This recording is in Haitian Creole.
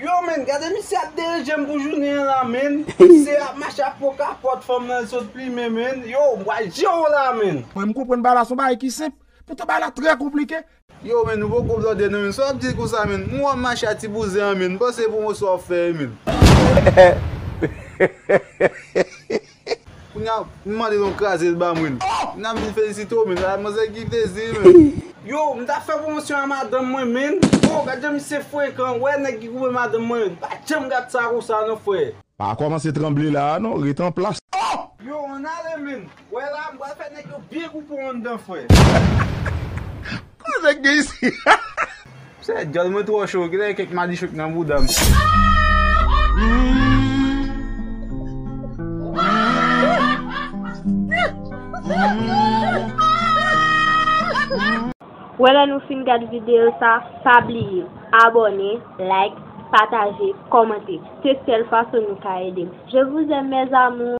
Yow menn gade misye ap derejem pou jounen an la menn Misye ap mache ap pran kapòt fanm nan li sot plimen menn Yow m pral jew la menn. Mwen m konprann bay la son bagay ki senp poutan bay la trè konplike. Yow menn nou poko blòdè nan menn sa w ap di konsa menn m wè w ap mache a ti bouzen an menn m panse pwomoson w ap fè menn. Kounya m mande nou kraze l ba mwen. Kounya m vin felisite w menn. Manzè ki plezi menn. Yo, m ta fè pwomosyon a madanm mwen menn. Oh, gad jan misye frekan. Wè nèg ki koupe madanm mwen. M pa janm gad sa konsa non frè. Pa kòmanse tranble la a non, ret anplas. Yo, ann ale menn. Wè la, m pral fè nèg yo byen koupe w anndan frè. Koze k gen isi la. Sè dyòl mwen twò cho kilè kèk madichon k nan boudam. Wè lè nou fin gad video sa pa bliye abòne like pataje kòmante se sèl fason nou ka edem je vous aime mes amours.